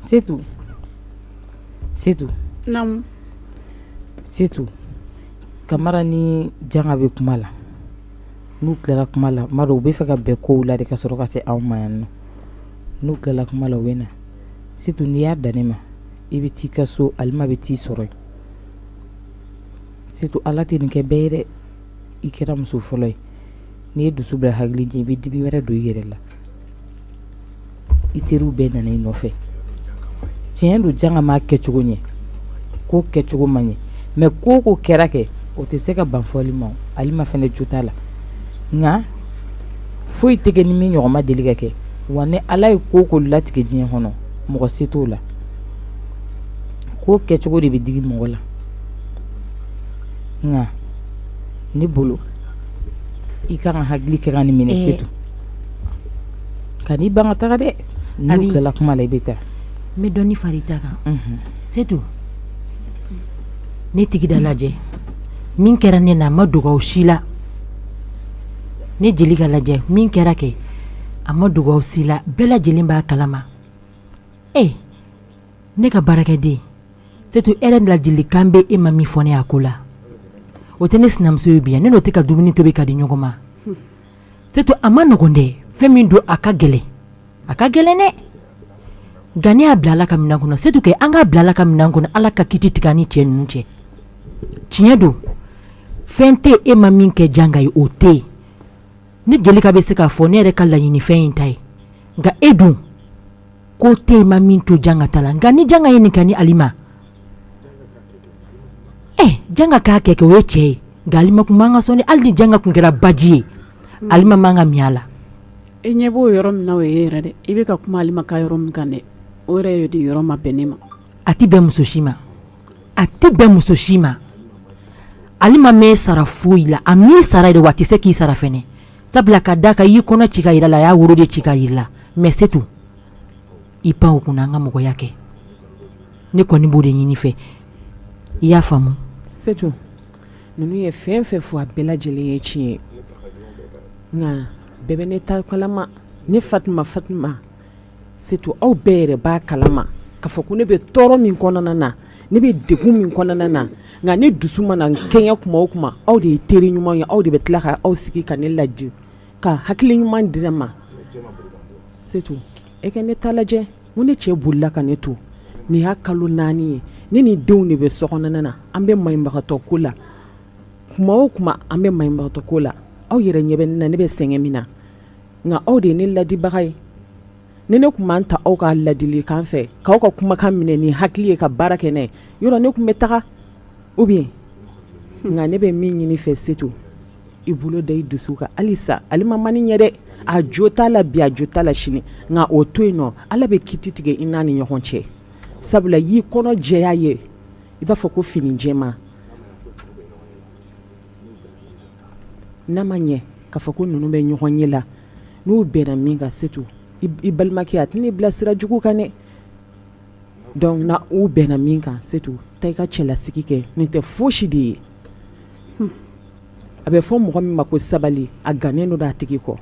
Setu setu setu kamara ni janga bɛ kuma la n'u tilala kuma la maro u bɛ fɛ ka bɛn kow la de ka sɔrɔ ka se anw ma yan nɔ n'u tilala kuma la u bɛ na setu n'i y'a dan ne ma i bɛ taa i ka so alima bɛ t'i sɔrɔ yen setu ala tɛ nin kɛ bɛɛ ye dɛ i kɛra muso fɔlɔ ye n'i ye dusu bila hakili ɲɛ i bɛ dibi wɛrɛ don i yɛrɛ la i teriw bɛɛ nana i nɔfɛ tiɲɛ don janga m'a kɛcogo ɲɛ ko kɛcogo ma ɲɛ mɛ ko o ko kɛra kɛ o tɛ se ka ban fɔli ma alima fɛnɛ jo t'a la nka foyi tɛ kɛ ni min ɲɔgɔn ma deli ka kɛ wa ni ala ye ko latigɛ diɲɛ kɔnɔ mɔgɔ se t'o la ko kɛcogo de bɛ digi mɔgɔ la nka ne bolo i ka kan ka hakili kɛ ka nin minɛ setu kan'i ban ka taga dɛ n'u tilala kuma la i bɛ taa n bɛ dɔɔni fara i ta kan setu ne tigida lajɛ min kɛra ne na a ma dogo aw si la ne jelika lajɛ min kɛra kɛ a ma dogo aw si la bɛɛ lajɛlen b'a kalama ee ne ka baarakɛden setu yɛrɛ ladilikan bɛ e ma min fɔ ne a ko la o tɛ ne sinamuso ye bi yan ne n'o tɛ ka dumuni tobi ka di ɲɔgɔn ma setu a ma nɔgɔn dɛ fɛn min don a ka gɛlɛn a ka gɛlɛn dɛ nka ne y'a bila ala ka minɛn kɔnɔ setu kɛ an k'a bila ala ka minɛn kɔnɔ ala ka kiti tigɛ ni cɛ ninnu cɛ tiɲɛ don fɛn tɛ e ma min kɛ janga ye o tɛ yen ne jelika bɛ se k'a fɔ ne yɛrɛ ka laɲinifɛn in ta ye nka e dun ko tɛ e ma min to janga la nka ni janga ye nin kɛ ni alima ye janga k'a kɛ kɛ o ye cɛ ye nka alima tun man ka sɔn hali ni janga tun kɛra baji ye mm. alima man ka min a la e ɲɛ b'o yɔrɔ min na o ye yɛrɛ dɛ i bɛ ka kuma alima ka yɔrɔ min kan dɛ o yɛrɛ ye de yɔrɔ ma bɛn ne ma a tɛ bɛn muso si ma a tɛ bɛn muso si ma alima m'e sara foyi la a m'i sara dɛ wa a tɛ se k'i sara fana sabula ka da kan i y'i kɔnɔ ci ka jira la a y'a woro de ci ka jira la mɛ setu i pan o kunna an ka mɔgɔya kɛ ne kɔni b'o de ɲini i fɛ i y'a faamu setu ninnu ye fɛn fɛn fɔ a bɛɛ lajɛlen ye tiɲɛ ye nka bɛɛ bɛ ne ta kalama ne fatima fatima setu aw bɛɛ yɛrɛ b'a kalama k'a fɔ ko ne bɛ tɔɔrɔ min kɔnɔna na ne bɛ degun min kɔnɔna na nka ne dusu mana tiɲɛ kuma o kuma aw de ye teri ɲuman ye aw de bɛ tila ka aw sigi ka ne ladi ka hakili ɲuman di ne ma setu e ka ne ta lajɛ ko ne cɛ bolila ka ne to nin y'a kalo naani ye ne ni denw de bɛ so kɔnɔna na an bɛ maɲumatɔ ko la tuma o tuma an bɛ maɲumatɔ ko la aw yɛrɛ ɲɛ bɛ ne na ne bɛ sɛgɛn min na nka aw de ye ne ladibaga ye ni ne tun b'an ta aw ka ladilikan fɛ k'aw ka kumakan minɛ ni hakili ye ka baara kɛ n'a ye yɔrɔ ne tun bɛ taga u bɛ nka ne bɛ min ɲini fɛ setu i bolo da i dusu kan halisa alima man ɲɛ dɛ a jo t'a la bi a jo t'a la sini nka o to yen nɔ ala bɛ kiti tigɛ i n'a ni ɲɔgɔn cɛ sabu ala y'i kɔnɔ jɛya ye i b'a fɔ ko fini jɛma n'a ma ɲɛ k'a fɔ ko ninnu bɛ ɲɔgɔnye la n'u bɛnna min kan setu i balimakɛ a tɛn'i bila sira jugu kan dɛ donc na u bɛnna min kan Setu taa i ka cɛlasigi kɛ nin tɛ fosi de ye a bɛ fɔ mɔgɔ min ma ko sabali a gannen don a tigi kɔ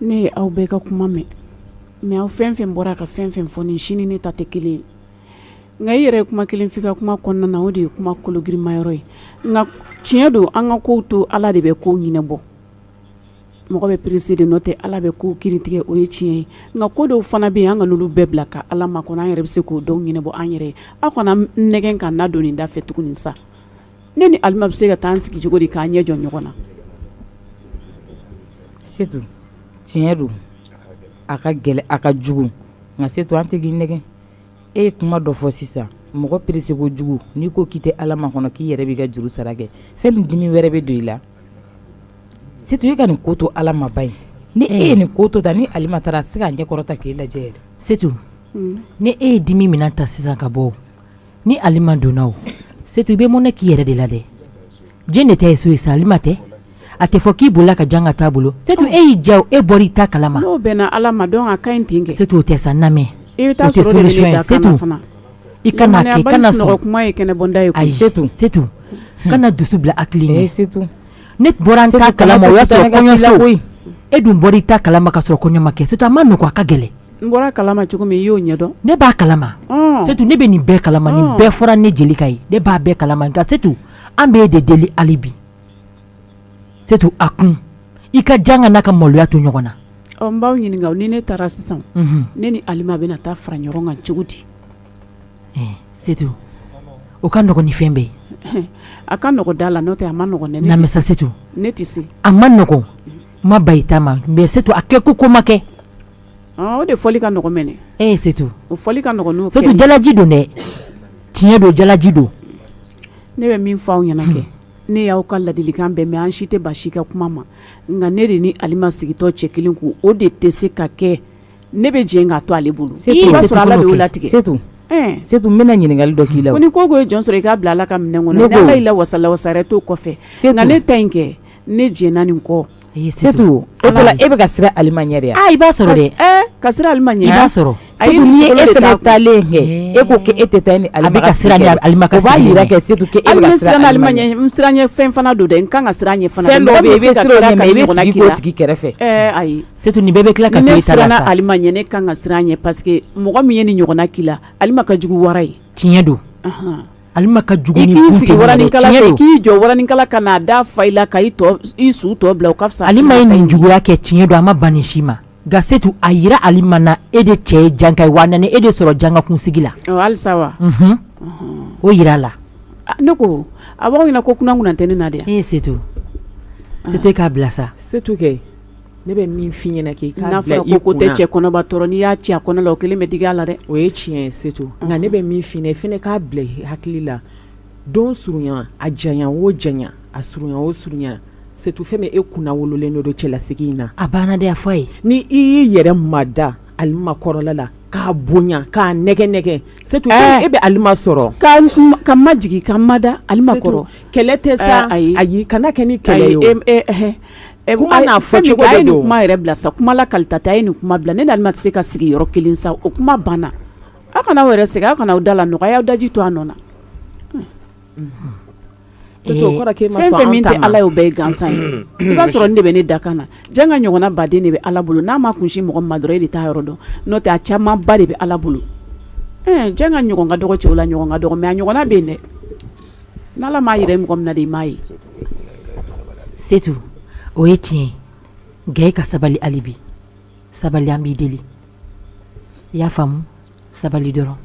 ne ye aw bɛɛ ka kuma mɛn mais aw fɛn fɛn bɔra ka fɛn fɛn fɔ nin si ni ne ta tɛ kelen ye nka i yɛrɛ ye kuma kelen f'i ka kuma kɔnɔna na o de ye kuma kologirima yɔrɔ ye nka tiɲɛ don an ka kow to Ala de bɛ kow ɲɛnabɔ mɔgɔ bɛ pressé de n'o tɛ ala bɛ kow kiiri tigɛ o ye tiɲɛ ye nka ko dɔw fana bɛ yen an kana olu bɛɛ bila ka ala makɔnɔ an yɛrɛ bɛ se k'o dɔw ɲɛnabɔ an yɛrɛ ye aw kana n nɛgɛn ka na don nin da fɛ tuguni sa ne ni alima bɛ se ka taa an sigi cogo di k'an ɲɛ jɔ ɲɔgɔn na setu tiɲɛ don a ka gɛlɛn a ka jugu nka setu an tɛ k'i nɛgɛn e ye kuma dɔ fɔ sisan mɔgɔ pressé kojugu n'i ko k'i tɛ ala makɔnɔ k'i yɛrɛ b'i ka juru sara kɛ fɛn min dimi wɛrɛ bɛ don i la Setu e ka nin ko to ala ma ba ye ni e ye nin ko to tan ni alima taara a tɛ se ka ɲɛ kɔrɔta k'i lajɛ yɛrɛ setu ni e ye dimi min ta sisan ka bɔ ni alima donna o setu i bɛ mɔnɛ k'i yɛrɛ de la dɛ e de ta ye so ye sa alima tɛ a tɛ fɔ k'i bolila ka janka t'a bolo setu e y'i ja e bɔra i ta kalama n'o bɛnna ala ma donc a ka ɲi ten kɛ setu o tɛ sa n lamɛn e bɛ taa I kana kɛ kana sɔn kuma ye kɛnɛ bɔda ye ayi Setu Setu kana dusu bila hakili ɲɛ Setu ne bɔra n ta kalama o y'a sɔrɔ kɔɲɔso koyi e dun bɔr'i ta kalama ka sɔrɔ kɔɲɔ ma kɛ Setu a man nɔgɔn a ka gɛlɛn n bɔra a kalama cogo min i y'o ɲɛdɔn ne b'a kalama ɔn Setu ne bɛ nin bɛɛ kalama nin bɛɛ fɔra ne Jelika ye ne b'a bɛɛ kalama nka Setu an b'e de deli hali bi setu a kun i ka janka n'a ka maloya to ɲɔgɔn na n b'aw ɲininka ni ne taara sisan ne ni alima bɛna taa fara ɲɔgɔn kan cogo di setu o ka nɔgɔn ni fɛn bɛɛ ye a ka nɔgɔn da la n'o tɛ a man nɔgɔn ne ma sa setu ne tɛ se a man nɔgɔn ma ba i ta ma mais setu a kɛ ko ko ma kɛ o de fɔli ka nɔgɔn mɛn e setu o fɔli ka nɔgɔn setu jalaji don dɛ tiɲɛ don jalaji don ne bɛ min fɔ aw ɲɛna kɛ ne y'aw ka ladilikan bɛɛ mɛn an si tɛ ban si ka kuma ma nka ne de ni alima sigitɔ cɛ kelen ko o de tɛ se ka kɛ ne bɛ jɛn k'a to ale bolo i b'a sɔrɔ ala de y'o latigɛ setu n bɛna ɲininkali dɔ k'i la ko ni ko ko ye jɔn sɔrɔ i k'a bila ala ka minɛn kɔnɔ n'ala y'i lawasa lawasa wɛrɛ t'o kɔfɛ setu nka ne ta in kɛ ne jɛnna nin kɔ E bɛ ka siran alima ɲɛ de i b'a sɔrɔ e bɛ ka siran alima ɲɛ i b'a sɔrɔ setu e fana taalen kɛ e ko k'e tɛ taa ni alima ka siran o b'a jira kɛ setu k'e bɛ ka siran alima ɲɛ siran ɲɛ fɛn fana don dɛ n ka kan ka siran a ɲɛ fɛn dɔ bɛ yen i bɛ siran o ɲɛ mais i bɛ sigi o tigi kɛrɛfɛ ayi setu nin bɛɛ bɛ tila ka ne siranna alima ɲɛ ne ka kan ka siran a ɲɛ paseke mɔgɔ min ye nin ɲɔgɔnna k'i la alima ka jugu wara ye tiɲɛ don Alima ka jugu k'i sigi k'i jɔ waraninkala ka n'a da fa i la ka i su tɔ bila o ka fisa alima ye nin juguya kɛ tiɲɛ don a ma ban si ma nka setu a jira alima na e de cɛ ye janga ye wa e de sɔrɔ janga kunsigi la halisa wa o jira a la ne ko a b'aw ɲɛna ko kunna tɛ ne na de e ye setu e k'a bila sa setu kɛ Ne bɛ min f'i ɲɛna k'i k'a bila i kun na, n'a fɔra ko tɛ cɛ kɔnɔba tɔɔrɔ n'i y'a ci a kɔnɔ la o kelen bɛ digi a la dɛ, o ye tiɲɛ ye Setu nka ne bɛ min fɔ i ɲɛna i fana k'a bila i hakili la don surunya a janya o janya a surunya o surunya Setu fɛn min e kunna wololen de don cɛlasigi in na, a banna dɛ a fɔ a ye, n'i y'i yɛrɛ mada Alima kɔrɔla la k'a bonya k'a nɛgɛ nɛgɛ Setu e bɛ Alima sɔrɔ, ka n majigin ka n mada Alima kɔrɔ, Setu kɛlɛ tɛ sa, ayi, ayi kana kɛ ni kɛlɛ ye o, ayi e e Ɛ kuma n'a fɔ cogo de don, a ye nin kuma yɛrɛ bila sa, kuma la kalita tɛ, a ye nin kuma bila, ne ni Alima tɛ se ka sigi yɔrɔ kelen sa, o kuma banna, aw kana aw yɛrɛ sɛgɛn, aw kana aw da la nɔgɔya, a ye aw daji to a nɔ na, unhun, sisan, o kɔrɔ ye k'e ma sɔn an ta ma, fɛn o fɛn min tɛ Ala ye, o bɛɛ ye gansan ye, i b'a sɔrɔ nin de bɛ ne dakan na, Janga ɲɔgɔnna baden de bɛ Ala bolo, n'a m'a kun sin mɔgɔ min ma dɔrɔn, e de t'a yɔrɔ dɔn, n'o tɛ a camanba de bɛ Ala bolo, ɛɛ, Janga ɲɔgɔn ka dɔgɔ cɛw la, ɲɔgɔn ka dɔgɔ mais a ɲɔgɔnna bɛ yen dɛ Ni ala m'a jira mɔgɔ min na de i m'a ye setu o ye tiɲɛ ye nka e ka sabali hali bi sabali an b'i deli i y'a faamu sabali dɔrɔn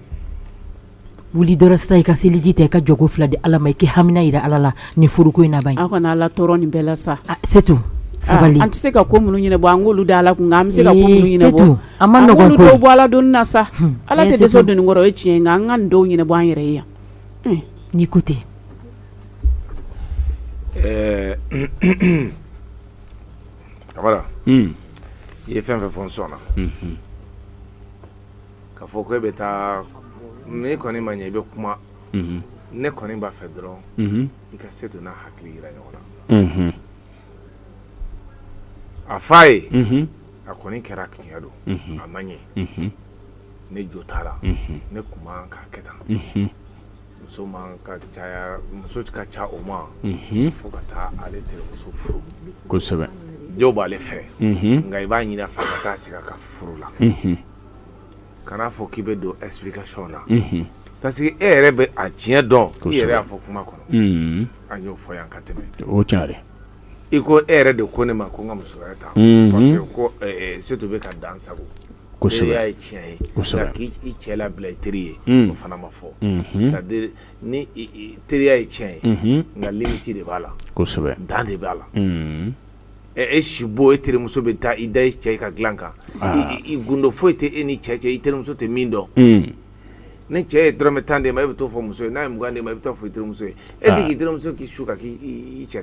wuli dɔrɔn sisan i ka seliji ta i ka jɔko fila di ala ma i k'i hamina jira ala la nin furuko in na ban aw kana ala tɔɔrɔ nin bɛɛ la sa setu sabali an tɛ se ka ko minnu ɲɛnabɔ an k'olu da ala kun nka an bɛ se ka ko minnu ɲɛnabɔ setu an ma ko dɔw bɔ ala doni na sa ala tɛ dɛsɛ doni kɔrɔ o ye tiɲɛ ye nka an ka nin dɔw ɲɛnabɔ an yɛrɛ ye yan n'i ko ten ɛɛ kamara i ye fɛn fɛn fɔ n sɔnna ka fɔ ko e bɛ taa mais a kɔni ma ɲɛ i bɛ kuma ne kɔni b'a fɛ dɔrɔn i ka setu n'a hakili jira ɲɔgɔn na a fa ye a kɔni kɛra tiɲɛ don a ma ɲɛ ne jo t'a la ne tun man k'a kɛ tan muso man ka caya muso ka ca o ma fɔ ka taa ale terimuso furu kosɛbɛ jo b'ale fɛ nka i b'a ɲini a fɛ ka taa sigi a ka furu la kana fɔ k'i bɛ don explication na parce que e yɛrɛ bɛ a tiɲɛ dɔn i yɛrɛ y'a fɔ kuma kɔnɔ an y'o fɔ yan ka tɛmɛ o tiɲɛ i ko e yɛrɛ de ko ne ma ko n ka muso wɛrɛ ta parce que ko setu bɛ ka dan sagon y'a ye tiɲɛ ye nka k'i cɛ labila i teri ye o fana ma fɔ ni teriya ye tiɲɛ ye nka limite de b'a la dan de b'a la e si bɔ e terimuso bɛ taa i da i cɛ i ka dilan kan i gundo foyi tɛ e ni cɛ cɛ i terimuso tɛ min dɔn ni cɛ ye dɔrɔmɛ tan d'e ma e bɛ t'o fɔ muso ye n'a ye mugan d'e ma i bɛ taa fɔ i terimuso ye e tɛ k'i terimuso k'i su ka k'i cɛ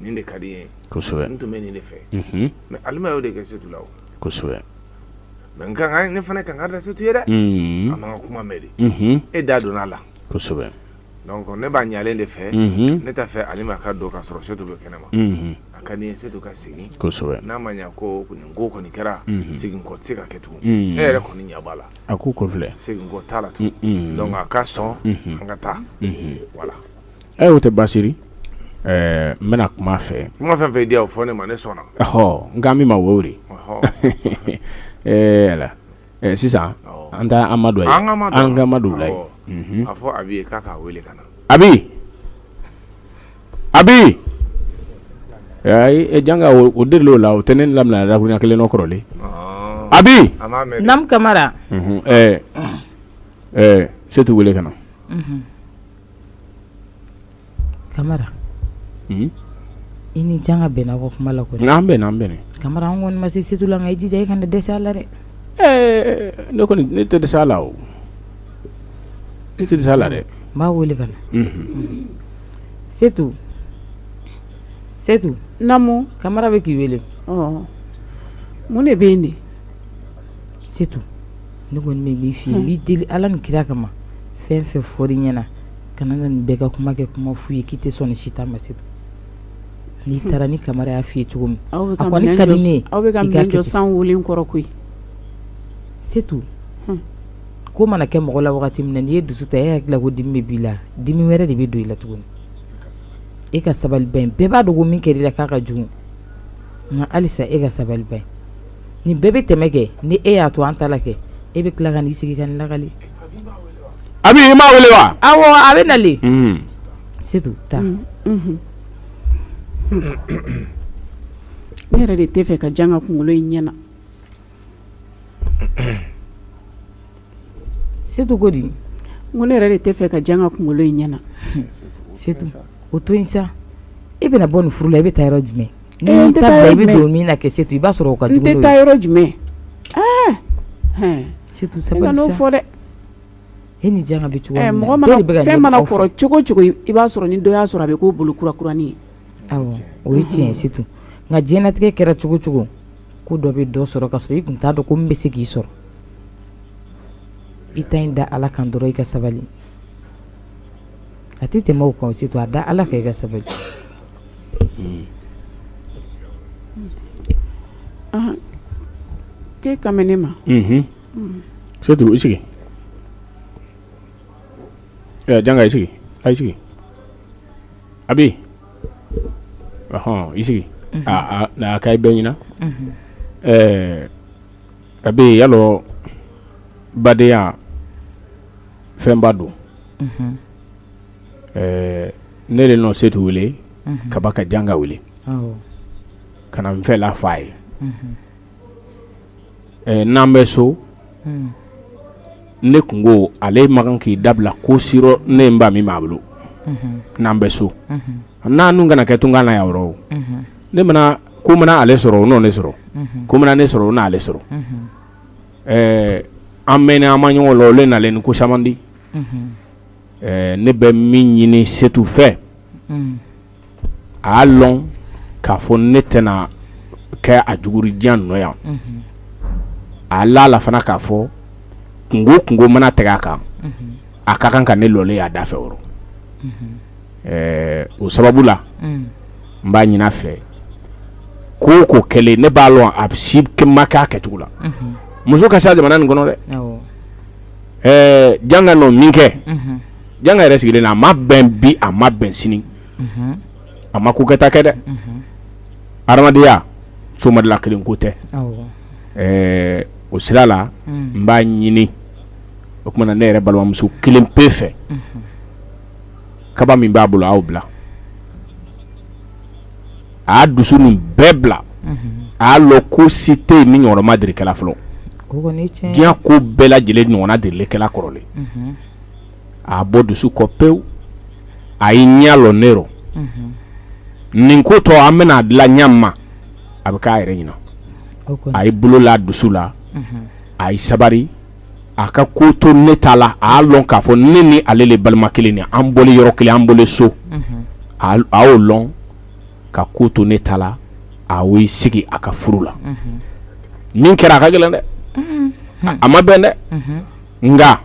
nin de ka di n ye kosɛbɛ n tun bɛ nin de fɛ mais alima y'o de kɛ setu la o kosɛbɛ mais nka ne fana kan ka da setu ye dɛ a ma n ka kuma mɛn de e da donna a la kosɛbɛ donc ne b'a ɲalen de fɛ ne t'a fɛ alima ka don ka sɔrɔ setu bɛ kɛnɛ ma a ka di n ye setu ka segin kosɛbɛ n'a ma ɲa ko nin ko kɔni kɛra segin kɔ tɛ se ka kɛ tugun e yɛrɛ kɔni ɲɛ b'a la a ko kɔfilɛ segin kɔ t'a la tugun donc a ka sɔn an ka taa voilà ɛ o tɛ basiri ɛɛ n bɛna kuma a fɛ kuma fɛn fɛn diya o fɔ ne ma ne sɔnna ɔhɔ nk'an bɛ ma wo de ɛɛ ala ɛɛ sisan an taa amadu ye an ka amadu la ye a fɔ abi ye k'a k'a wele ka na abi abi e janga o de o la o tɛ ne lamina dakurunya kelen nɔ kɔrɔlen abi namu kamara ɛɛ ɛɛ setu wele ka na kamara i ni janga bɛnna ko kuma la kɔni an bɛnna an bɛnna kamara an kɔni ma se setu la nka i jija i kana dɛsɛ a la dɛ ne kɔni ne tɛ dɛsɛ a la o ne tɛ dɛsɛ a la dɛ n b'a wele ka na setu setu namu kamara bɛ k'i wele mun de bɛ yen de setu ne kɔni bɛ min f'i ye n b'i deli Ala ni kira kama fɛn o fɛn fɔr'i ɲɛna kana na nin bɛɛ ka kuma kɛ kuma fu ye k'i tɛ sɔn nin si ta ma Setu n'i taara ni Kamara y'a f'i ye cogo min a kɔni ka di ne ye i k'a kɛ ten aw bɛ ka minɛn jɔ san wolen kɔrɔ koyi Setu ko mana kɛ mɔgɔ la wagati min na n'i ye dusu ta e hakili la ko dimi bɛ b'i la dimi wɛrɛ de bɛ don i la tuguni e ka sabali bani bɛɛ b'a dɔn ko min kɛr'i la k'a ka jugu nka halisa e ka sabali bani nin bɛɛ bɛ tɛmɛ kɛ ni e y'a to an ta la kɛ e bɛ tila ka n'i sigi ka nin lakali Abi i m'a wele wa awɔ a bɛ na Setu taa ne yɛrɛ de tɛ fɛ ka janga kunkolo in ɲɛ na Setu ko di ko ne yɛrɛ de tɛ fɛ ka janga kunkolo in ɲɛna Setu o to yen sa e bɛna bɔ nin furu la i bɛ taa yɔrɔ jumɛn n i bɛ don min na kɛ Setu i b'a sɔrɔ o ka jugu n tɛ taa yɔrɔ jumɛn Setu sabali kan'o fɔ dɛ e ni janga bɛ cogo min na mɔgɔ fɛn mana kɔrɔ cogo o cogo i b'a sɔrɔ ni dɔ y'a sɔrɔ a bɛ k'o bolo kura kuranin ye o ye tiɲɛ Setu nka diɲɛlatigɛ kɛra cogo cogo ko dɔ bɛ dɔ sɔrɔ ka sɔrɔ i kun t'a dɔn ko nin bɛ se k'i sɔrɔ i ta in da ala kan dɔrɔn i ka sabali a tɛ tɛmɛ o kan Setu a da ala kan i ka sabali ke ka ne ma Setu i sigi janga i sigi a sigi Abi Ɔhɔn i sigi aa na a ka bɛɛ ɲɛna ɛɛ Abi i y'a lɔn badenya fɛnba don ɛɛ ne de nɔ Setu wele kaba ka janga wele ka na n fɛla f'a ye n'an bɛ so hmm. ne kunko ale man kan k'i dabila ko si rɔ ne n ba min b'a bolo hmm. n'an bɛ so hmm. n'a dun kana kɛ tunga na yan rɔ ne mana ko mana ale sɔrɔ o n'o ne sɔrɔ ko mana ne sɔrɔ o n'ale sɔrɔ an mɛn an ma ɲɔgɔn la o le nalen ni ko caman di ne bɛ min ɲini setu fɛ a y'a lɔn k'a fɔ ne tɛna kɛ a jugu ri diɲɛ nɔ yan a la a la fana k'a fɔ kunko kunko mana tɛgɛ a kan a ka kan ka ne lɔlen y'a da fɛ o ɛɛ o sababu la n b'a ɲin'a fɛ ko ko kɛlen ne b'a lɔn a si ma kɛ a kɛcogo la muso ka se jamana nin kɔnɔ dɛ ɛɛ janga nɔ min kɛ janga yɛrɛ sigilen na a ma bɛn bi a ma bɛn sini a ma ko kɛta kɛ dɛ adamadenya somadula kelen ko tɛ o sira la n b'a ɲini o kuma na ne yɛrɛ balimamuso kelen pe fɛ kaba min b'a bolo aw bila a y'a dusu nin bɛɛ bila a y'a lɔn ko si tɛ yen min ɲɔgɔnna ma deli kɛ la fɔlɔ diɲɛ ko bɛɛ lajɛlen ɲɔgɔnna delilen kɛ la kɔrɔlen a bɔ dusu kɔ pewu a y'i ɲɛ lɔ ne rɔ nin ko tɔ an bɛna a dilan ɲɛ ma a bɛ k'a yɛrɛ ɲina a y'i bolo la dusu la a y'i sabari a ka ko to ne ta la a y'a lɔn k'a fɔ ne ni ale le balima kelen ni an bɔlen yɔrɔ kelen an bɔlen so a y'o lɔn ka ko to ne ta la a y'i sigi a ka furu la min kɛra a ka gɛlɛn dɛ a ma bɛn dɛ nka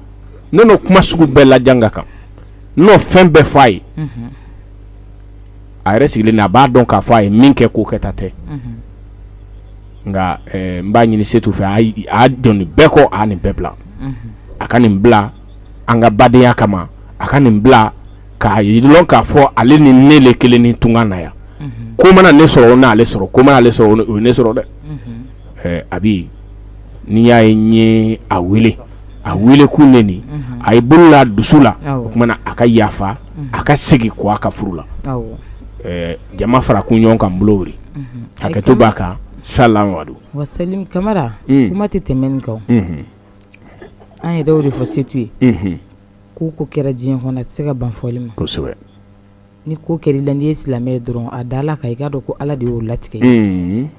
ne n'o kuma sugu bɛɛ la janga kan n n'o fɛn bɛɛ fɔ a ye a yɛrɛ sigilen na a b'a dɔn k'a fɔ a ye min kɛ k'o kɛta tɛ nka eh, n b'a ɲini setu fɛ a y- a dɔn nin bɛɛ kɔ a nin bɛɛ bila a ka nin bila an ka badenya kama a ka nin bila k'a y'a lɔn k'a fɔ ale ni ne le kelen ni tunkan na yan ko mana ne sɔrɔ o n'ale sɔrɔ ko mana ale sɔrɔ o ne sɔrɔ dɛ abi n'i y'a ye n ye a wele a wele ko ne nin a y'i bolo la dusu la o tuma na a ka yafa a ka segin kɔ a ka furu la jama fara kun ɲɔgɔn kan bolo wuri hakɛto b'a kan salamadu wa kamara kuma tɛ tɛmɛ nin kan an yɛrɛ o de fɔ setu ye Ko ko kɛra diɲɛ kɔnɔ a tɛ se ka ban fɔli ma kosɛbɛ ni ko kɛra i la n'i ye silamɛ ye dɔrɔn a da ala kan i k'a dɔn ko ala de y'o latigɛ n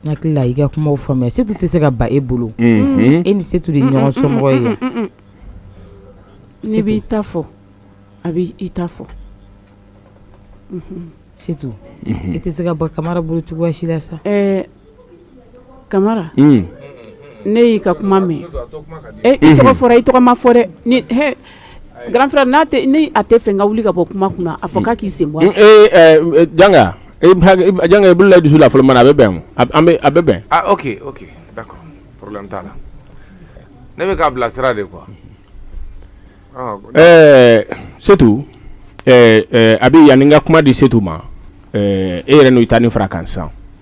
hakili la i ka kuma faamuya setu tɛ se ka ban e bolo e ni setu de ɲɔgɔn somɔgɔ ye n'i bɛ i ta fɔ a bɛ i ta fɔ setu e tɛ se ka ban kamara bolo cogoya si la sa kamara ne y'i ka kuma mɛn i tɔgɔ fɔra i tɔgɔ ma fɔ dɛ grand frère n'a a tɛ fɛ n ka wuli ka bɔ kuma kunna a fɔ k'a k'i sen bɔ janga janga i bolo la dusu la fɔlɔman na a bɛ bɛn a bɛ bɛn ne bɛ k'a bilasira de quoi ɛɛ setu abi yanni n ka kuma di setu ma e yɛrɛ n'o i ta nin fara kan sa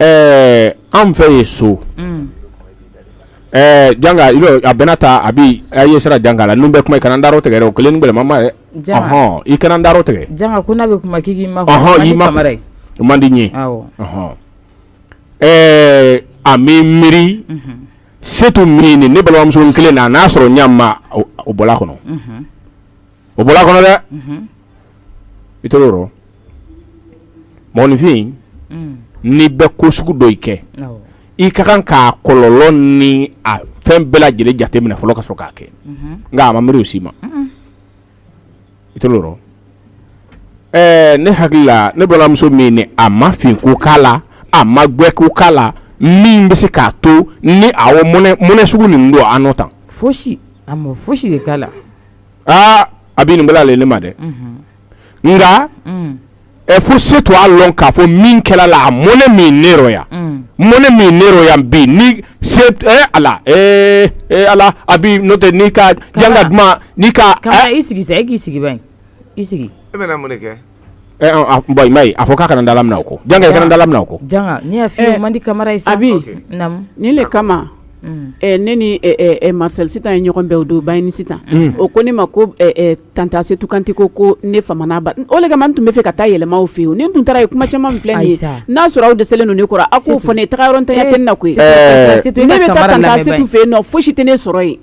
ɛɛ anw fɛ ye so mm. ɛɛ janga a bɛna ta abi a ye sira janga la ni n bɛ kuma i kana n darɔ tigɛ dɛ o kelen ni gbɛlɛman ma dɛ ɔhɔn i kana n darɔ tigɛ janga ko n'a bɛ kuma k'i k'i ma ɔhɔn i ma o man di n ye ɔhɔn ɛɛ ami miiri mhm. setu miiri ne balimamuso kelen na n'a sɔrɔ ɲa ma o bɔla kɔnɔ mhm. o bɔra kɔnɔ dɛ i to yɔrɔ mɔgɔninfin mm. n'i bɛ ko sugu dɔ i kɛ i ka kan k'a kɔlɔlɔ ni a fɛn bɛɛ lajɛlen jate minɛ fɔlɔ ka sɔrɔ k'a kɛ nka a ma miiri o si ma i to yɔrɔ ɛɛ ne hakili la ne balimamuso min ni a ma fin ko k'a la a ma gbɛ ko k'a la min bɛ se k'a to ni a mɔnɛ sugu nin don a nɔ tan fosi a ma fosi de k'a la aa abi nin bala ale ne ma dɛ nka ɛ fo setu a lɔn k'a fɔ min kɛra la a mɔnɛ min ne rɔ yan mɔnɛ min ne rɔ yan bi ni se a la ee ee ala abi n'o tɛ n'i ka janga duman n'i ka i sigi k'i sigi i sigi e bɛ mun kɛ Ye a fɔ k'a kana dala minɛ o ko janga i kana dala minɛ o ko ne y'a f'i ye o man di kamara ye sa abi nin de kama ne ni marcel sitan ye ɲɔgɔn bɛn o don bayini sitan o ko ne ma ko tanta setu kante ko ko ne fa mana ban o de kama n tun bɛ fɛ ka taa yɛlɛma aw fɛ yen ne tun taara ye kuma caman min filɛ nin ye n'a sɔrɔ aw dɛsɛlen don ne kɔrɔ a k'o fɔ ne taga yɔrɔntanya tɛ ne na koyi ne bɛ taa tanta setu fɛ yen non foyi si tɛ ne sɔrɔ yen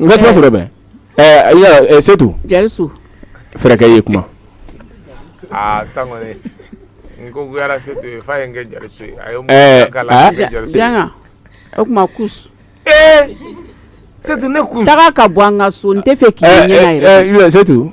N ka kuma sɔrɔ bɛ ɛɛ setu jarisu fɛrɛkɛ ye kuma aa sa n ko setu f'a ye n kɛ jarisu ye janga o tuma ku setu ne ko taga ka bɔ an ka so n tɛ fɛ k'i ɲɛ setu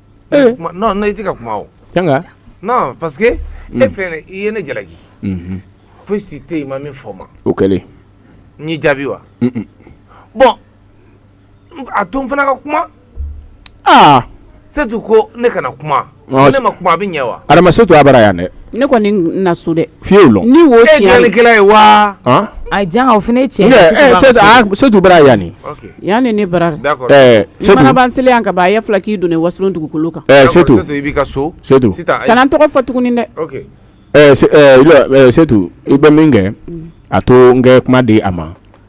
i tɛ ka kuma o janga non parce que e fɛnɛ i ye ne jalaki foyi si tɛ yen ma min fɔ ma o kɛlen n y'i jaabi wa bon a to n fana ka kuma aa setu ko ne kana kuma ne ma kuma a bɛ ɲɛ wa adama setu a bara yan dɛ Ne kɔni na so dɛ fi ni ye wa a janga o fana setu bara yan ni yan ne bara mana ban seli an ka a ye fila k'i don wasolon dugukolo kan kana n tɔgɔ fɔ tuguni dɛ setu i bɛ min kɛ a to n ye kuma di a ma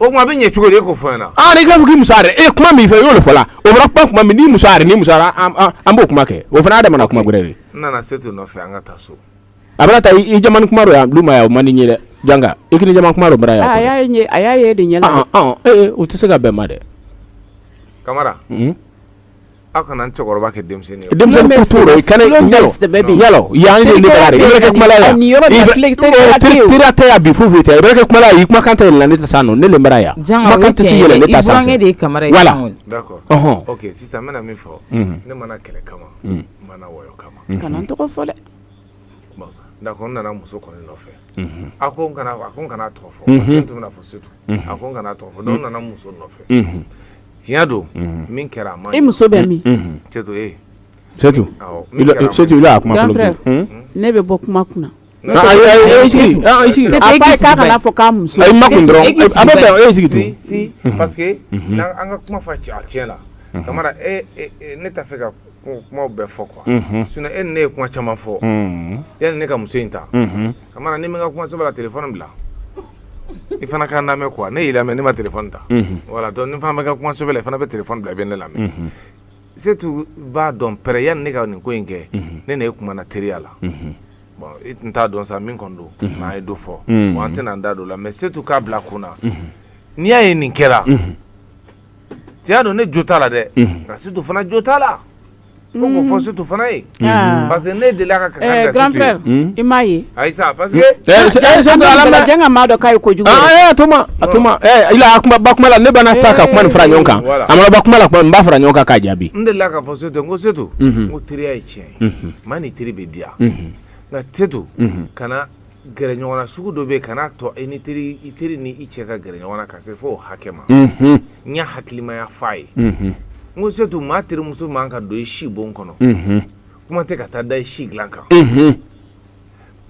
o kuma a bɛ ɲɛ cogo di e k'o fɔ n ɲɛna. aa ah, n'i k'a fɔ k'i muso yɛrɛ e kuma min fɛ i y'o le fɔ la o bɔra kuma kuma min n'i muso yɛrɛ n'i muso yɛrɛ an b'o kuma kɛ o fana y'a damana kuma gɛrɛ de ye. n nana setu nɔfɛ an ka taa so. a bɛna taa i jamani kuma dɔ yan lu ma yan o man di n ye dɛ janga i k'i ni jamani kuma dɔ bara yan. Ah, a y'a ye a y'a ye de ɲɛ la. Ah, ee o tɛ se ka bɛn ma dɛ. kamara. aw kana n cɛkɔrɔba kɛ denmisɛnnin ye denmisɛnnin ko t'o la i kana tulon bɛ sɛbɛ bi yala o yan ye ne bara de ye i bɛ kɛ kumala yan nin yɔrɔ bɛɛ tile tɛ kɛ tile tira tɛ yan bi foyi foyi tɛ i bɛ kɛ kumala yan i kumakan tɛ yɛlɛla ne ta san non ne le bara yan kumakan tɛ se yɛlɛ ne ta sanfɛ de ye kamara ye voilà d'accord ɔhɔn ok sisan n bɛna min fɔ ne mana kɛlɛ kama n mana wɔyɔ kama kana n tɔgɔ fɔ dɛ bon d'accord n nana muso kɔni nɔfɛ a ko n kana a ko n kana tɔgɔ fɔ parce que n tun bɛna fɔ setu a ko n kana tɔgɔ fɔ donc n nana muso nɔfɛ tiɲɛ don min kɛra a ma i muso bɛ min ne bɛ bɔ kuma kun ka fɛ ka kuma bɛɛ fɔ qu sun e ne ye kuma caman fɔ e ne ka muso in ta ka ne ma ka kuma saba tɛ fana bila i fana ka lamɛn quoi ne y'i lamɛn ne ma téléphone ta voilà donc ni fana bɛ ka kuma sɛbɛ la i fana bɛ téléphone bila i bɛ ne lamɛn setu b'a dɔn pɛrɛ yanni ne ka nin ko in kɛ ne n'e kumana teriya la bon i tun t'a dɔn sa min kɔni don mais an ye dɔ fɔ bon an tɛna an da don o la mais setu k'a bila kun na n'i y'a ye nin kɛra tiɲɛ don ne jo t'a la dɛ nka setu fana jo t'a la fo k'o fɔ setu fana ye parce que ne delila ka kangari da grand setu ye frère i m'a ye ayi sa parce que Eh, se- eh, se- an bɛ ala minɛ. jɛn ka maa dɔ k'a ye kojugu Ah, ye. eh, a to ma a to ma eh, ila a ka ban kuma la ne bɛna ta ka kuma nin fara ɲɔgɔn kan Voilà. a mana ban kuma la kuma n b'a fara ɲɔgɔn kan k'a jaabi n delila k'a fɔ setu n ko setu n ko teriya ye tiɲɛ ye maa ni teri bɛ diya nka setu kana gɛrɛ ɲɔgɔn na sugu dɔ bɛ yen kan'a to i ni teri i teri ni i cɛ ka gɛrɛ ɲɔgɔn na ka se fo o hakɛ ma n y'a hakilimaya fɔ a ye n ko setu maa terimuso man ka don i si bon kɔnɔ kuma tɛ ka taa da i si dilan kan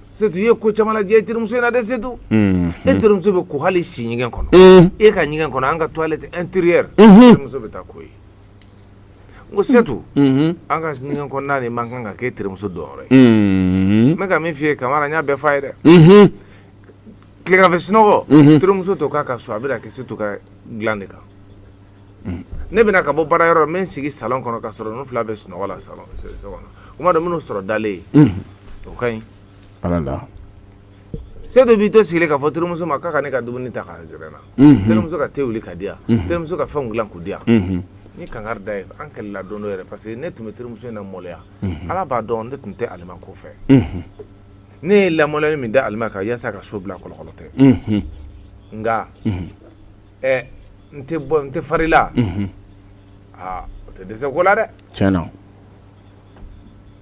setu i ye ko caman lajɛ i terimuso in na dɛ setu e terimuso bɛ ko hali i si ɲɛgɛn kɔnɔ e ka ɲɛgɛn kɔnɔ an ka toilette intérieure terimuso bɛ taa ko yen ko setu an ka ɲɛgɛn kɔnɔna nin man kan ka kɛ i terimuso donyɔrɔ ye n bɛ ka min f'i ye kamara n y'a bɛɛ f'a ye dɛ tilegan fɛ sunɔgɔ terimuso t'o k'a ka so a bɛ n'a kɛ setu ka dilan de kan ne bɛ na ka bɔ baara yɔrɔ n bɛ n sigi salon kɔnɔ ka sɔrɔ ninnu fila bɛ sunɔgɔ la salon kɔnɔ kuma dɔ n bɛ ninnu sɔrɔ dalen yen o ka ɲi Setu b'i to sigilen k'a fɔ terimuso ma k'a ka ne ka dumuni ta k'a gɛrɛ n na terimuso ka te wuli ka di yan terimuso ka fɛnw dilan k'u di yan n ye kangari d'a ye an kɛlɛla don dɔ yɛrɛ parce que ne tun bɛ terimuso in na maloya ala b'a dɔn ne tun tɛ alima ko fɛ ne ye lamaloyali min da alima kan yasa ka so bila kolokolo tɛ nka ɛ n tɛ bɔ n tɛ farila aa o tɛ dɛsɛ ko la dɛ tiɲɛna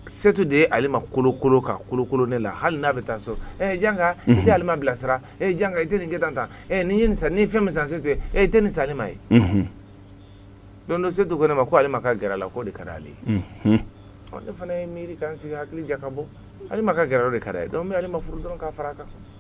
setu de ye alima kolokolo ka kolokolo ne la hali n'a bɛ taa so e janka i tɛ alima bilasira e janka i tɛ nin kɛ tan ta n'i ye nin san ni fɛn min san setu ye i tɛ nin san alima ye don dɔ setu ko ne ma ko alima ka gɛrɛ la k'o de ka di ale ye ne fana ye miiri ka n sigi hakili jagabɔ alima ka gɛrɛ o de ka d'a ye donc n bɛ alima furu dɔrɔn ka fara kan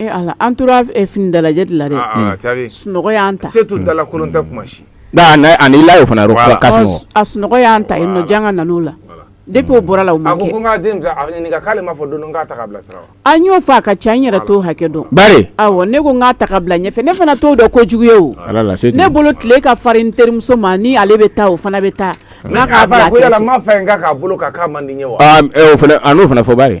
Ee ala an tora fini dalajɛ de la dɛ sunɔgɔ y'an ta setu dalakolon tɛ kuma si la fana a sunɔgɔ y'an ta yen nɔ janga nana o la depuis o bɔra la o ma kɛ k'ale ma fɔ don ta bila an y'o fɔ a ka ca n yɛrɛ t'o hakɛ dɔn bari awɔ ne ko n k'a ta ka bila ɲɛfɛ ne fana t'o dɔn kojugu ye o ne bolo tile ka farin n terimuso ma ni ale bɛ taa o fana bɛ taa ma fɛ k'a bolo k'a man di ye wa o fana fɔ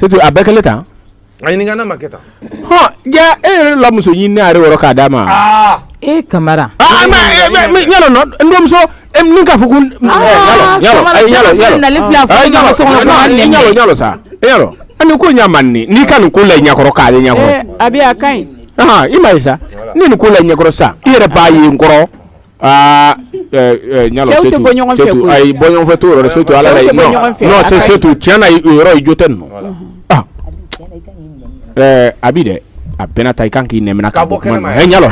Setu a bɛɛ kɛlen tan a ɲininka n'a ma kɛ tan e yɛrɛ la muso ɲini ne yɛrɛ woro k'a d'a ma e kamara ɲalo n dɔmuso nin k'a fɔ ko ɲalo sa ɲalo ani ko ɲa mande n'i ka nin ko la ɲɛkɔrɔ k'ale ɲɛkɔrɔ a bɛ a ka ɲi i m'a ye sa ni nin ko la ɲɛkɔrɔ sa i yɛrɛ b'a ye n kɔrɔ aa ɛɛ ɲalo setu bɔ ɲɔgɔn fɛ koyi ayi bɔ ɲɔgɔn fɛ t'o yɔrɔ setu ala la non non c'est setu tiɲɛ na o yɔrɔ i jo tɛ nin nɔ ah ɛɛ a bi dɛ a bɛna ta i kan k'i nɛmina ka bɔ kuma nin nɔ ɛ ɲalo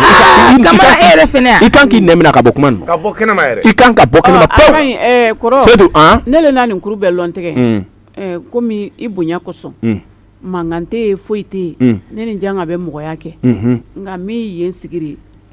kamara e yɛrɛ fɛnɛ yan i kan k'i nɛmina ka bɔ kuma nin nɔ ka bɔ kɛnɛma yɛrɛ i kan ka bɔ kɛnɛma a pewu ka ɲi ɛɛ kɔrɔ setu an ne le na nin kuru bɛɛ lɔn tigɛ un ɛɛ komi i bonya kosɔn un mankan tɛ yen foyi tɛ yen Mm. ne ni janga bɛ mɔgɔya kɛ unhun nka min yen sigiri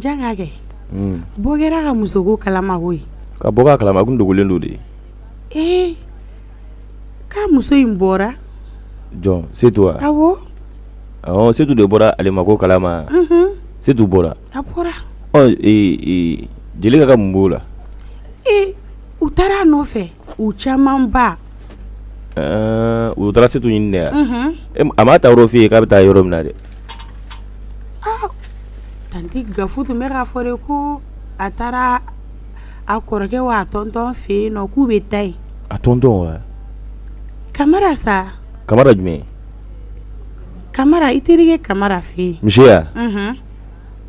Janga kɛ bɔ kɛra ka musoko kalama koyi ka bɔ k'a kalama kun dogolen don de ye ee k'a muso in bɔra jɔn setu wa awɔ setu de bɔra ale ma ko kalama setu bɔra a bɔra jelika ka mun b'o la ee u taara a nɔfɛ u caman ba u taara setu ɲini dɛ a m'a taayɔrɔ f'i ye k'a bɛ taa yɔrɔ min na dɛ tanti gafu tun bɛ k'a fɔ de ko a taara a kɔrɔkɛ wa a tɔntɔn fɛ yen nɔ k'u bɛ taa yen a tɔntɔn wa kamara sa kamara jumɛn kamara i terikɛ kamara fɛ yen misi ya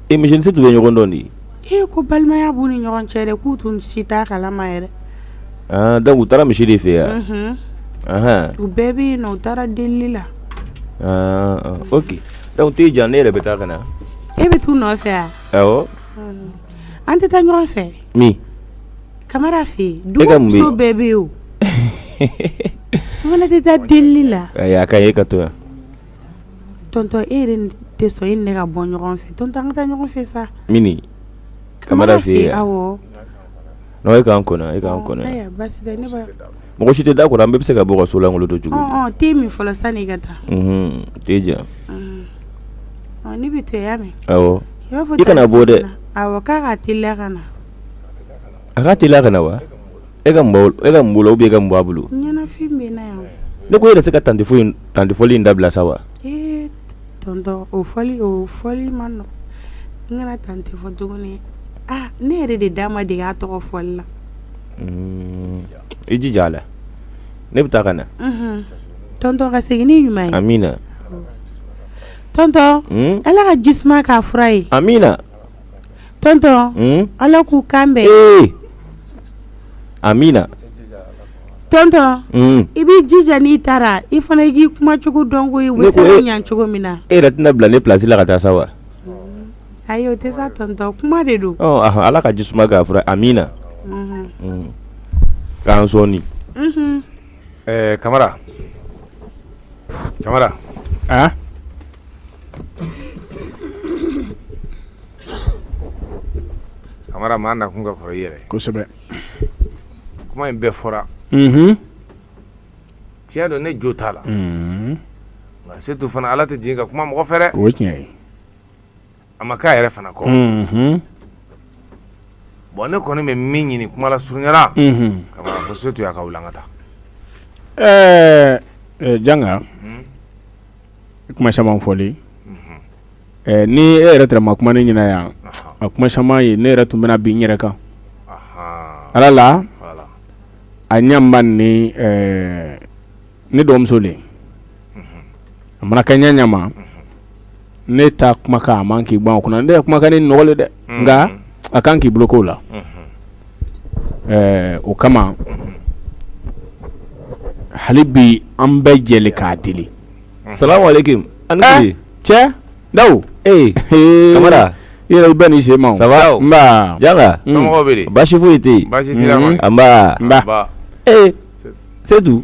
E misi ni setu bɛ ɲɔgɔn dɔn de e ko balimaya b'u ni ɲɔgɔn cɛ dɛ k'u tun si t'a kalama yɛrɛ donc u taara misi de fɛ yan u bɛɛ bɛ yen u taara deli la o tɛ jan ne yɛrɛ bɛ taa ka na e bɛ taa u nɔfɛ wa an tɛ taa ɲɔgɔn fɛ min kamara fɛ yen dumuso bɛɛ bɛ yen o tɛ taa deli la a ka ɲi e ka to yan Tɔntɔn e yɛrɛ tɛ sɔn e ni ne ka bɔ ɲɔgɔn fɛ tɔntɔn an ka taa ɲɔgɔn fɛ sa mini kamara fɛ yen awɔ e ka n kɔnɔ e mɔgɔ si tɛ da kɔrɔ an bɛɛ bɛ se ka bɔ ka so lankolon to cogo di te min fɔlɔ sani ka taa te jɛra ne bɛ to min i kana bɔ dɛ k'a ka teliya ka na a ka teliya ka na wa e ka mun e ka mun la ou bien e ka mun b'a bolo ɲɛnafin bɛ n na ne ko e yɛrɛ se ka tanti fɔ in tanti fɔli in dabila sa wa o fɔli o fɔli ma nɔgɔn n kana tanti fɔ tuguni aa ne yɛrɛ de da ma dege a tɔgɔ fɔli la i jija a la ne bɛ taa ka na tɔntɔn ka segin ni ɲuman ye amiina tɔntɔn ala ka jisuma k'a fura ye amiina tɔntɔn ala k'u kan bɛn amiina tɔntɔn i b'i jija n'i taara i fana i k'i kumacogo dɔn ko bɛ se ka ɲɛ cogo min na e yɛrɛ tɛna bila ne plasi la ka taa sa wa ayi o tɛ sa tɔntɔn kuma de don ala ka ji suma k'a fura amiina k'an sɔɔni eh kamara kamara ah kamara maa nakun ka kɔrɔ i yɛrɛ kosɛbɛ kuma in bɛɛ fɔra mhm tiɲɛ don ne jo t'a la mhm nka setu fana ala tɛ jigin ka kuma mɔgɔ fɛ dɛ o ye tiɲɛ ye a ma k'a yɛrɛ fana kɔ bɔn ne kɔni bɛ min ɲini kuma lasurunya la k'a fɔ setu y'a ka wuli an ka taa ɛɛ janga kuma caman fɔli ni e yɛrɛ tɛrɛ ma kuma ne ɲɛna yan a kuma caman ye ne yɛrɛ tun bɛna bin n yɛrɛ kan ala la a ɲɛ ni ne dɔgɔmuso le a mana kɛ ɲa ɲa ma ne ta kumakan a man k'i ban o kun na ne ye kumakan ni nɔgɔli dɛ nka a kan k'i bolo k'o la ɛɛ o kama hali bi an bɛ jɛ k'a deli salamu alaikum ani cɛ dawu ee i yɛrɛ bɛ n'i sen ma ça va janga baasi foyi tɛ yen ee setu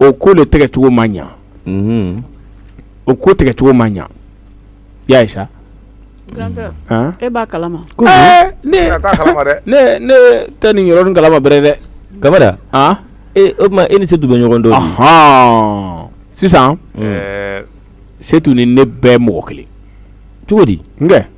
o ko le tɛgɛcogo ma ɲa o ko tɛgɛcogo ma ɲa y'a ye sa e b'a kalama ne tɛ nin yɔrɔ kalama bɛrɛ dɛ kamara o tuma e ni setu bɛ ɲɔgɔn dɔn hɔn sisan setu ni ne bɛɛ mɔgɔ kelen cogo di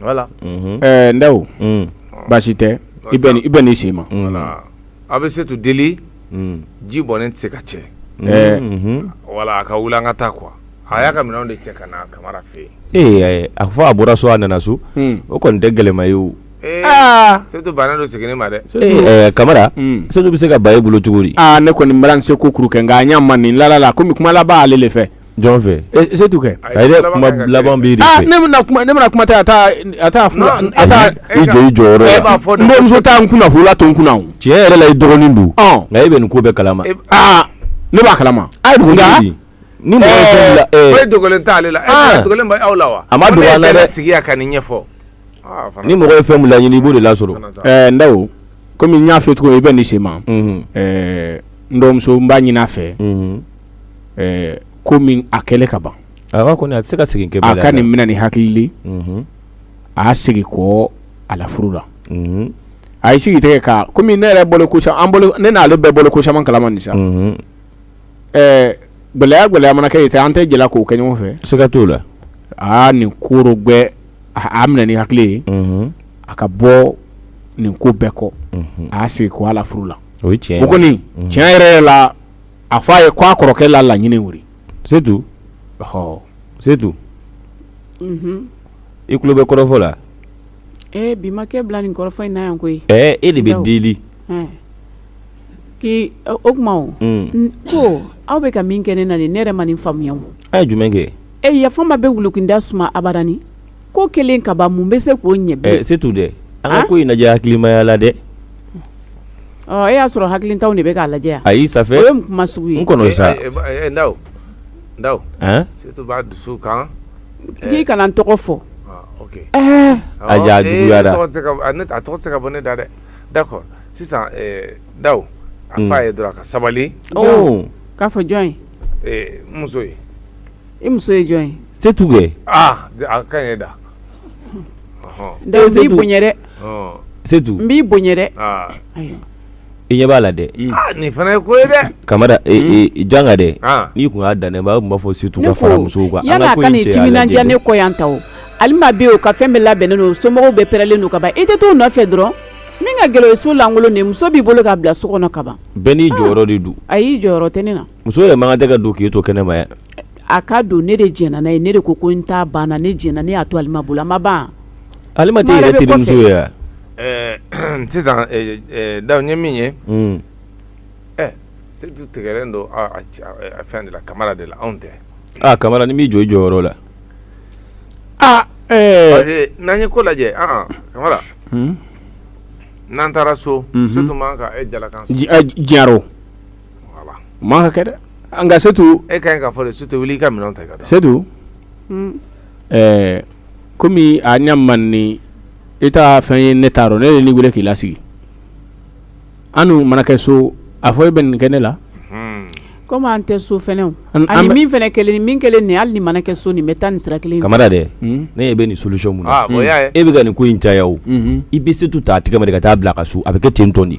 voilà unhun ɛɛ Ndawo un baasi tɛ i bɛ ni i bɛ n'i sen ma voilà a bɛ setu deli un ji bɔnnen tɛ se ka cɛ ɛɛ unhun wala a ka wuli an ka taa quoi a y'a ka minɛnw de cɛ ka na kamara fɛ yen ee a fɔ a bɔra so a nana so un o kɔni tɛ gɛlɛma ye o ee aa setu bannen don seginni ma dɛ ee ɛɛ kamara un setu bɛ se ka ban e bolo cogo di aa ne kɔni n bara n seko kuru kɛ nka a ɲɛ ma nin lala la komi kuma laban ale de fɛ Jɔn fɛ Setu kɛ a yɛrɛ kuma laban b'i de fɛ ne bɛna kuma tɛ taa i jɔ i jɔyɔrɔ la e b'a fɔ n bamuso taa n kunna furula to n kunna tiɲɛ yɛrɛ la i dɔgɔnin don nka e bɛ nin ko bɛɛ kalama aa ne b'a kalama a ye dugu ni e dogolen t' ale la aw la wa a ma yɛrɛ sigi ka nin ɲɛfɔ ni mɔgɔ ye fɛn min laɲini i b'o de lasɔrɔ ɛɛ Ndao kɔmi n y'a fɛ cogo i bɛ nin se ma n dɔgɔmuso n b'a ɲini a fɛ kɔmi a kɛlen ka ban a kɔni a tɛ se ka segin kɔ a ka nin minɛ ni hakili a y'a segin kɔ a la furu la a ye sigi tɛgɛ kan kɔmi ne yɛrɛ bɔlen ne n'ale bɛɛ bɔlen ko caman kalama nin sa ɛɛ gɛlɛya gɛlɛya mana kɛ yen an tɛ jɛla k'o kɛ ɲɔgɔn fɛ siga t'o la aa nin koro bɛɛ a minɛ ni hakili ye a ka bɔ nin ko bɛɛ kɔ a y'a segin kɔ a la furu la o kɔni tiɲɛ yɛrɛ la a fɔ a ye k' a kɔrɔkɛ la laɲini wuli Setu ɔ Setu i tulo bɛ kɔrɔfɔ la ee bi makɛ bila nin kɔrɔfɔ in na yan koyi ɛ e de bɛ deli k'i o kuma o ko aw bɛ ka min kɛ ne na nin ne yɛrɛ ma nin faamuya a ye jumɛn kɛ ɛ yafa n ma bɛ wulu kinda suma abadan ko kɛlen ka ban mun bɛ se k'o ɲɛ bilen Setu dɛ an ka ko in lajɛ hakilimaya la dɛ ɔ e y'a sɔrɔ hakilintanw de bɛ k'a lajɛ yan ayi ça fait o ye kuma sugu ye n kɔnɔ sa Ndao Ndao Setu b'a dusu kan k'i kana n tɔgɔ fɔ a ja juguyara a tɔgɔ tɛ se ka bɔ ne da dɛ d'accord sisan Ndao a f'a ye dɔrɔn a ka sabali k'a fɔ jɔn ye muso ye i muso ye jɔn ye Setu kɛ aa a ka ɲi da Ndao n b'i bonya dɛ Setu n b'i bonya dɛ i ɲɛ b'a la dɛ nin fana ye ko ye dɛ Kamara janga dɛ n'i kun y'a dan ne ma a tun b'a fɔ Setu ka fara musow kan yani a ka nin timinandiya ne kɔ yan tan o Alima bɛ yen o ka fɛn bɛɛ labɛnnen don somɔgɔw bɛɛ pɛrɛlen don ka ban i tɛ t'o nɔfɛ dɔrɔn min ka gɛlɛn o ye so lankolon de ye muso b'i bolo k'a bila so kɔnɔ ka ban bɛɛ n'i jɔyɔrɔ de don ayi jɔyɔrɔ tɛ ne na Muso yɛrɛ man kan tɛ ka don k'e to kɛnɛ ma yan, a ka don ne de jɛnna n'a ye ne de ko ko n ta banna ne jɛnna ne y'a to Alima bolo a ma ban wa, Alima tɛ e yɛrɛ terimuso ye wa, ɛɛ sisan Ndao n ye min ye, un, ɛ Setu tigɛlen don a fɛn de la Kamara de la anw tɛ, aa Kamara n'i m'i jɔ i jɔyɔrɔ la, aa ɛɛ, parce que n'an ye ko lajɛ anhan Kamara, un, n'an taara so, unhun, Setu man kan ka e jalakan sɔsɔ, tiɲɛ y'a ye ma kɛ dɛ nka setu e ka ka fɔ setu wuli i ka minɛn ta ka setu kɔmi a ɲɛ man ni e ta fɛn ye ne taara ne ye nin weele k'i lasigi an mana kɛ so a fɔ e bɛ nin kɛ ne la kɔmi an tɛ so ani min fana kelen ni min kelen nin hali ni mana kɛ so nin bɛ taa ni sira kelen kamara dɛ ne e bɛ nin solution mun e bɛ ka nin ko in caya o i bɛ setu ta a tɛgɛ ma ka taa bila a ka so a bɛ kɛ ten tɔn di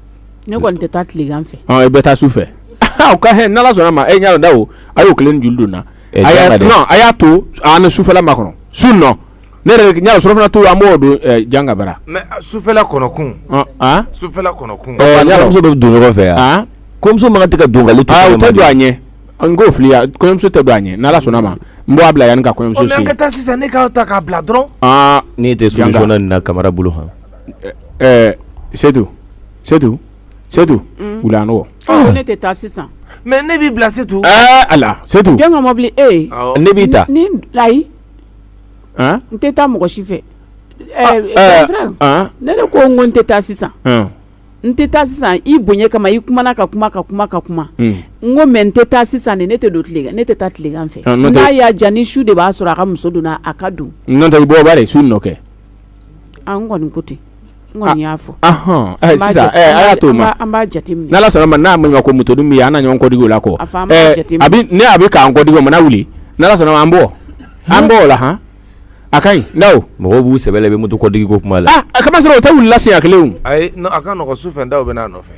ne kɔni tɛ taa tilegan fɛ i bɛ taa su fɛ ka n'ala sɔnna ma e ɲa da o a y'o kelen juru don a y'a to ni sufɛla makɔnɔ su nɔ ne yɛrɛ ɲa surafana to an b'o dun janga bara mɛ sufɛla kɔnɔkun sufɛla kɔnɔkun bɛ don ɲɔgɔn fɛ yan kɔɲɔmuso ma tɛ ka don don a ɲɛ n ko fili kɔɲɔmuso tɛ don a ɲɛ n'ala sɔnna ma n b'a bila yan ka kɔɲɔmuso ka taa sisan ne k'aw ta k'a bila dɔrɔn tɛ na kamara bolo han setu setu setu wuli n ko ne tɛ taa sisan mɛ ne b'i bila setu a la setu mɔbili e ne b'i ta ni ayi n tɛ taa mɔgɔ si fɛ ne de ko n ko n tɛ taa sisan n tɛ taa sisan i bonya kama i kumana ka kuma ka kuma ka kuma n ko mɛ n tɛ taa sisan ne tɛ don tile ne tɛ taa tilegan fɛ n'a y'a jan ni su de b'a sɔrɔ a ka muso donna a ka don n i bɔ bari su nɔ kɛ n kɔni ko ten n kɔni y'a fɔ sisan a y'a to an b'a jateminɛ n'ala sɔnna ma n'a ma ko moto dun bɛ an na ɲɔgɔn kɔdigi o la kɔ ne a bɛ k'an kɔdigi o mana wuli n'ala sɔnna ma an bɔ an bɔ o la han a ka ɲi ndaw mɔgɔw b'u sɛbɛ bɛ moto kɔdigiko kuma la a ka sɔrɔ o tɛ wulila lase a kelen a ka su fɛ da bɛ n'a nɔfɛ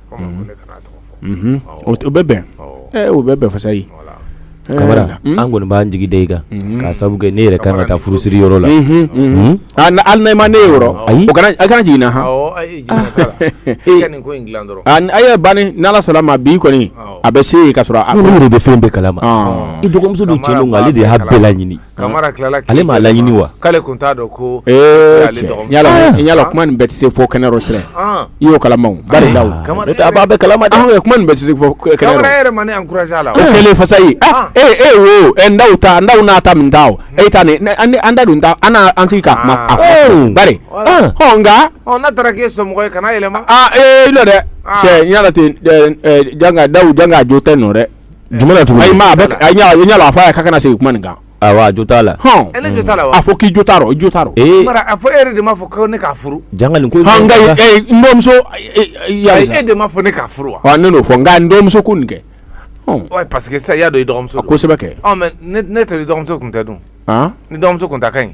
o bɛ bɛn o bɛ bɛn fasayi kamara an kɔni b'an jigi da i kan k'a sabu kɛ ne yɛrɛ kan ka taa furusiri yɔrɔ la ali n'a ma ne ye yɔrɔ a kana jigin a ye ban n'ala sɔnna ma bi kɔni a bɛ se yen ka sɔrɔ ne yɛrɛ bɛ fɛn bɛɛ kala ma i dɔgɔmuso don cɛ ale de y'a bɛɛ laɲini kamara tilala ale m'a laɲini wa k'ale tun t'a dɔn ko yala kuma nin bɛɛ tɛ se fɔ kɛnɛ yɔrɔ tɛ i y'o kalama bari ndaw b'a bɛɛ kalama dɛ kuma nin bɛɛ tɛ se fɔ kɛnɛ kamara yɛrɛ ma ne encouragé a la o kɛlen fasayi e e wo ɛ ndaw ta ndaw n'a ta min ta o e ta nin an da dun ta an na an sigi ka kuma a kuma bari ɔ nka n'a taara k'e somɔgɔ ye kana yɛlɛma aa ee i nɔ dɛ cɛ n y'a la ten janga ndaw janga jo tɛ nɔ dɛ Jumɛn na tugu ayi a ɲa la a fɔ a ye k'a kana segin kuma nin kan awa jo t'a la a fɔ k'i jo t'a rɔ i jo t'a rɔ a fɔ e de m'a fɔ ko ne k'a furu nka n dɔgɔmuso e de m'a fɔ ne k'a furu wa ne n'o fɔ nka n dɔgɔmuso ko nin kɛ parce que sa y'a dɔn i dɔgɔmuso kosɛbɛ kɛ ne tɛ dɔgɔmuso tun tɛ dun ni dɔgɔmuso tun ta ka ɲi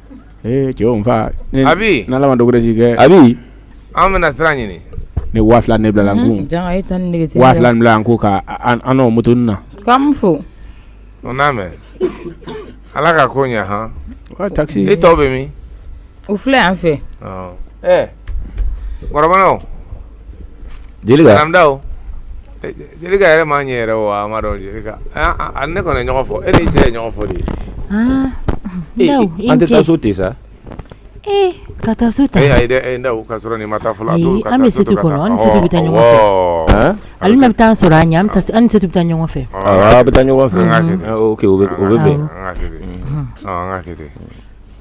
Ee cɛw n fa abi ni ala ma dɔ wɛrɛ si kɛ abi an bɛna sira ɲini ni waa fila nin bila n kun waa fila bila n kun ka moto na k'a fo o n'a mɛn ala ka ko ɲɛ h taxi e tɔw bɛ min u filɛ yan fɛ ɛɛ Jelika naamu ndaw jelika yɛrɛ ma ɲɛ yɛrɛ wa a ma dɔn jelika ne kɔni ɲɔgɔn fo i ni ce ye ɲɔgɔn fo de ye an tɛ taa so ten sa ee ka taa so ta e ndaw ka sɔrɔ nin ma taa fɔlɔ an bɛ setu kɔnɔ an ni setu bɛ taa ɲɔgɔn fɛ alima bɛ taa sɔrɔ an ɲɛ an ni setu bɛ taa ɲɔgɔn fɛ a bɛ taa ɲɔgɔn fɛ o bɛ bɛn an ka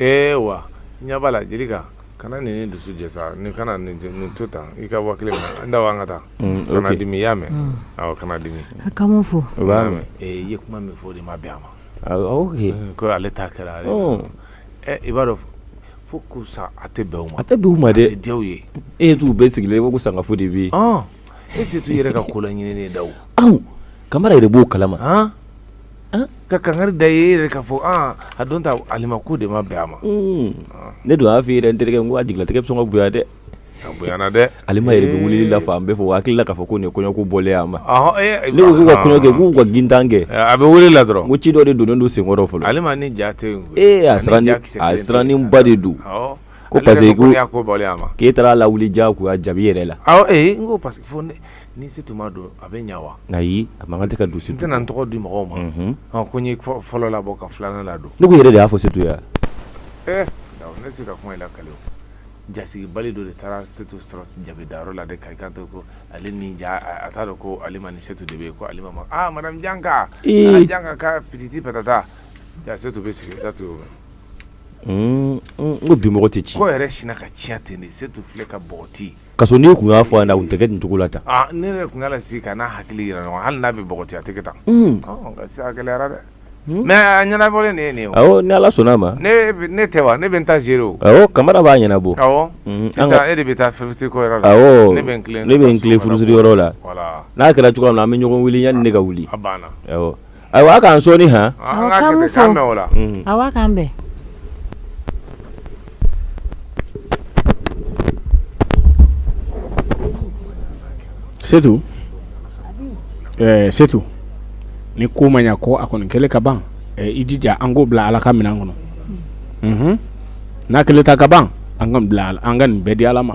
ee wa ɲɛ b'a la jelika kana nin ni dusu jɛ sa nin kana nin to tan i ka waa kelen minɛ ndaw an ka taa mm, kana dimi i y'a mɛn mm. awɔ kana dimi a ka mun fɔ o b'a mɛn ee i ye kuma min fɔ o de ma bɛn a ma ok mm, ko ale ta kɛra ale oh. eh, i b'a dɔn fo k'u sa a tɛ bɛn u ma a tɛ bɛn u ma dɛ a tɛ diya u ye e ye t'u bɛɛ sigilen i ko ko sangafo de bɛ yen e sen t'u yɛrɛ ka ko la ɲinini ndaw kamara yɛrɛ b'o kalama ka kankari da e yɛrɛ k'a fɔ a don ta alima ko de ma bɛn a ma ne dun y'a fɔ i yɛrɛ n terikɛ n ko a jigilatigɛ bɛ sɔn ka bonya dɛ a bonyana dɛ alima yɛrɛ bɛ wuli la fan bɛɛ fɛ o hakili la k'a fɔ ko nin kɔɲɔko bɔlen a ma ne ko k'u ka kɔɲɔ kɛ k'u ka gintan kɛ a bɛ wele la dɔrɔn ko ci dɔ de donnen don senkɔrɔ fɔlɔ alima ni ja tɛ a siranniba de don Ko parce que ko y'a ko alima k'e taara lawuli diyagoya jabi yɛrɛ la ee n ko parce que fo ni setu ma don a bɛ ɲɛ wa ayi a man kan tɛ ka don n tɛna n tɔgɔ di mɔgɔw ma ko n fɔlɔ labɔ ka filanan ladon n yɛrɛ de y'a fɔ setu yan ee ne se ka kuma la kalo jasigibali dɔ de taara setu sɔrɔ jabidayɔrɔ la de ka i ka to ko ale ni ja a t'a dɔn ko alima ni setu de bɛ yen ko alima aa madame janka janka ka pititi patata ja setu bɛ sigi setu ko bi mɔgɔ tɛ ci ko yɛrɛ sinna ka tiɲɛ ten setu filɛ ka bɔgɔti ka sɔrɔ n'i tun y'a fɔ a tun tɛ kɛ nin cogo la tan ne yɛrɛ tun y'a lasigi ka n'a hakili jira ɲɔgɔn hali n'a bɛ bɔgɔti a tɛ kɛ tan a gɛlɛyara dɛ mɛ a ɲɛnabɔlen ye nin ye ni ala sɔnna a ma ne tɛ wa ne bɛ taa se o kamara b'a ɲɛnabɔ e de bɛ taa la ne bɛ furusiri yɔrɔ la n'a kɛra cogoya min na an bɛ ɲɔgɔn wele yanni ne ka wuli Ayiwa k'an sɔɔni h k'an bɛn setu setu ni ko ma ɲɛ ko a kɔni kɛlen ka ban i jija an k'o bila ala ka minɛn kɔnɔ n'a kɛlen ta ka ban an k'a bila an ka nin bɛɛ di ala ma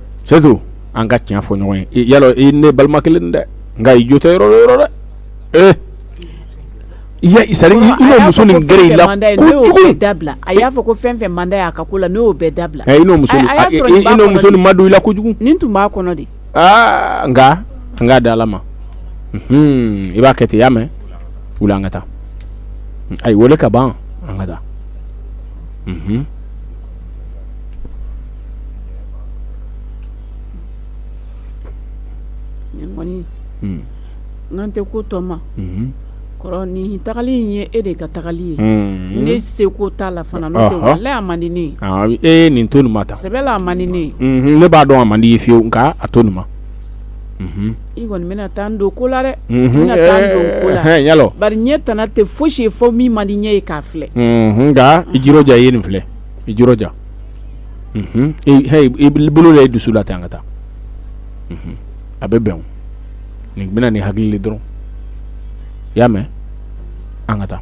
setu an ka tiɲɛ fɔ ɲɔgɔn ye y'a lɔn i ne balima kelen dɛ nka i jo tɛ yɔrɔ yɔrɔ dɛ ee muso nin gɛrɛ i la dabila a y'a fɔ ko fɛn fɛn man d'a y'a ka ko la n'o bɛɛ dabila muso nin madon i la kojugu nin tun b'a kɔnɔ de aa nka an k'a da ala ma i b'a kɛ ten y'a mɛn wuli an ka taa a y'i weele ka ban an ka taa n'an tɛ ko tɔma kɔrɔ nin tagali ye e de ka tagali ye ne seko t'a la fana man di ne ye nin to n ma taa sɛbɛ la a man di ne ye ne b'a dɔn a man di i ye fiyewu nka a to n ma i kɔni bɛna taa n don ko la dɛ bɛna taa n don ko la y'a lɔn bari ɲɛ tana tɛ foyi si ye fo min man di ɲɛ ye k'a filɛ nka i jiroja i ye nin filɛ i jiroja i bolo la i dusu la ten an ka taa a bɛ bɛn n'i bɛ na ni hakili le dɔrɔn i y'a mɛn an ka taa